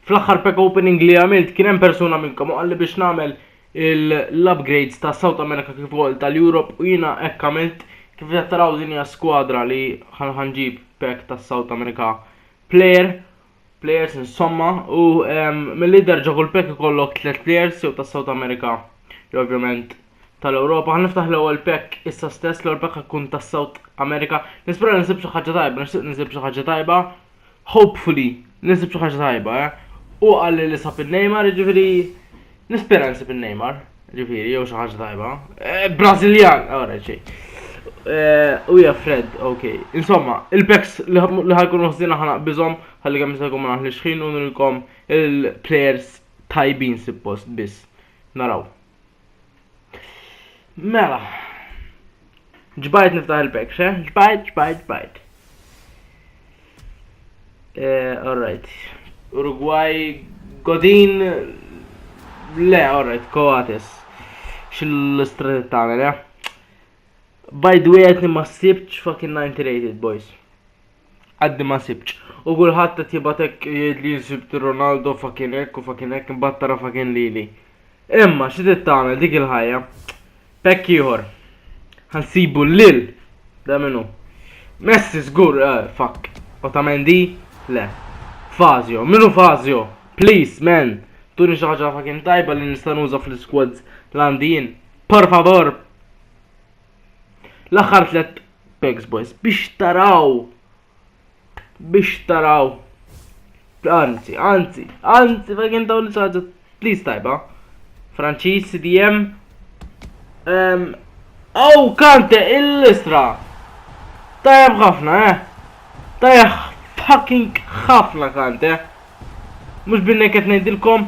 Fl-aħħar pack opening li għamilt kien hemm persuna minnkom u qalli biex nagħmel l-upgrades ta' South America kif ukoll tal-Europe u jiena hekk għamilt kif qed taraw din hija skwadra li ħanġib pack ta' South America player players insomma u mill-li derġa kull pack ikollok tliet players jew ta' South America jew ovvjament tal-Ewropa. Ħaniftaħ l-ewwel pack issa stess, l-ewwel pack ħakun tas-South America. Nispera nisib xi ħaġa tajba, nixtieq nisib xi ħaġa tajba. Hopefully nisib xi ħaġa tajba, eh? Hu qalli li sab in-Neymar, jiġifieri nispera nsib in-Neymar, jiġifieri jew xi ħaġa tajba. Eh, Brażiljan, ora xejn. Eh, u ja Fred, ok. Insomma, il-packs li ħajkun uħżina ħana bizom, ħalli kemm jista' jkun ma naħlix ħin u nilkom il-players tajbin suppost biss. Naraw. Mela. Ġbajt niftaħ il-pek, xe? Ġbajt, ġbajt, ġbajt. Eh, alright. Uruguay, Godin, le, alright, Coates. Xil-istret tagħmel, eh? By the way, għetni ma sibċ fucking 90 rated, boys. Għaddi ma sibċ. U kulħadd qed jibgħat hekk jgħidli sibt Ronaldo fakin hekk u fakin hekk imbagħad tara fakin lili. Imma xi trid tagħmel dik il-ħajja. Pekk ieħor. Ħansibu lil da minnu. Messi żgur eh, fakk. Otamendi le. Fazio, minnu Fazio? Please man, tuni xi ħaġa fakin tajba li nista' nuża fl-squads l-għandin. Por favor, L-aħħar tliet pegs boys biex taraw biex taraw anzi, anzi, anzi, ma kien dawn ħaġa please tajba. Franċiż CDM. Um, oh, kante il-listra. Tajab ħafna, eh. Tajab fucking ħafna kante. Mux binnek qed ngħidilkom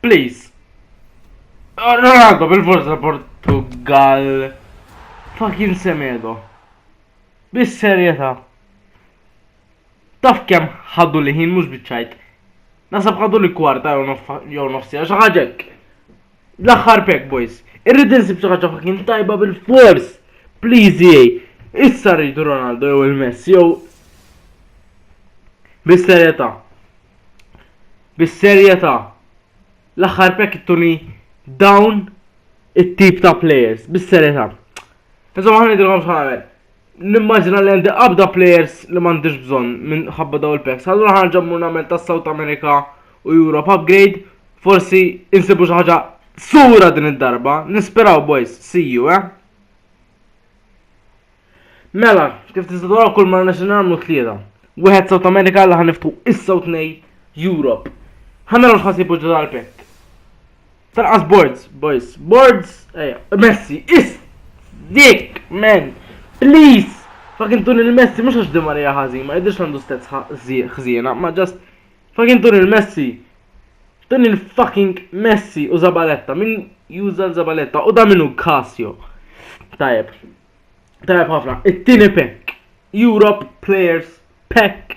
Please. Ronaldo bil-forza Portugal. Fucking semedo. Bis-serjetà. Taf kemm ħaddu li ħin mhux biċċajt. Nasab ħaddu li kwarta jew nofsija xi ħaġek. L-aħħar pek boys. Irrid insib xi ħaġa fucking tajba bil-fors. Please EA. Issa rridu Ronaldo jew il-Messi jew Bis-serjetà. Bis-serjetà. L-aħħar pek ittuni dawn it-tip ta' players. Bis-serjetà. Insomma ħanidilkom x'ħamel. Nimmaġina li għandi qabda players li m'għandix bżonn minn ħabba daw il-packs. Allura ħarġa mmur nagħmel ta' South America u Europe upgrade, forsi insibu xi ħaġa sura din id-darba, nisperaw boys, see you, eh? Mela, kif tista' tara kull ma nixin nagħmlu tlieta. Wieħed South America li ħaniftu issa u tnej Europe. Ħanara x'ħasibu ġodha l-pekk. Tarqas boards, boys, boards, eja, Messi, is, dik, man, please, fucking tun il-Messi, mux għax dimma li ħazin, ma jidirx għandu stets ħzina, ma just, fucking tun il-Messi, tun il-fucking Messi u Zabaletta, min juża Zabaletta, u da minu Casio, tajab, tajab ħafna, it-tini pek, Europe Players Pack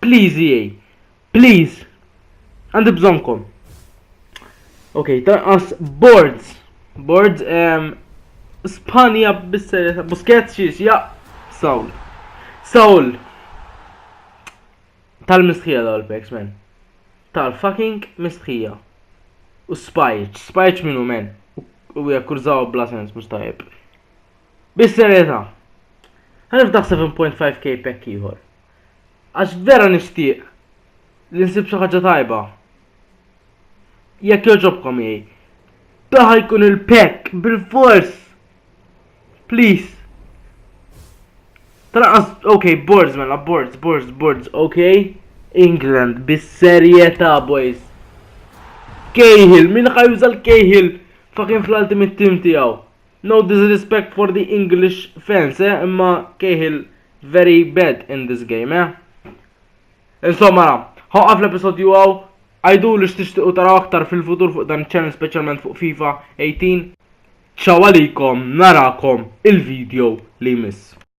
Please EA. Please. Għandi bżonkom. Ok, tanqas boards. Boards um, Spanja bis-serjetà. Busquets xiex, ja. Saul. Saul. Tal-mistħija daw l-peks, men. Tal-fucking mistħija. U spajċ. Spajċ minnu, men. U jakkurżaw bla sens, mux tajib. Bis-serjetà. Għanif daħseb 7.5k pekk ieħor. Għax vera nixtieq li nsib xi ħaġa tajba. Jekk jogħġobkom jgħi. Daħ jkun il-pekk bil-fors. Please. Traqas, ok, boards mela, boards, boards, boards, ok. England, bis-serjetà, boys. Cahill, min ħajuża l-Cahill fucking fl-ultimate team tiegħu. No disrespect for the English fans, eh, imma Cahill very bad in this game, eh. Insomma, ħoqaf l-episodju għaw, għajdu li xtixtiqu taraw aktar fil-futur fuq dan ċen specialment fuq FIFA 18. Ciao għalikom, narakom il-video li jmiss.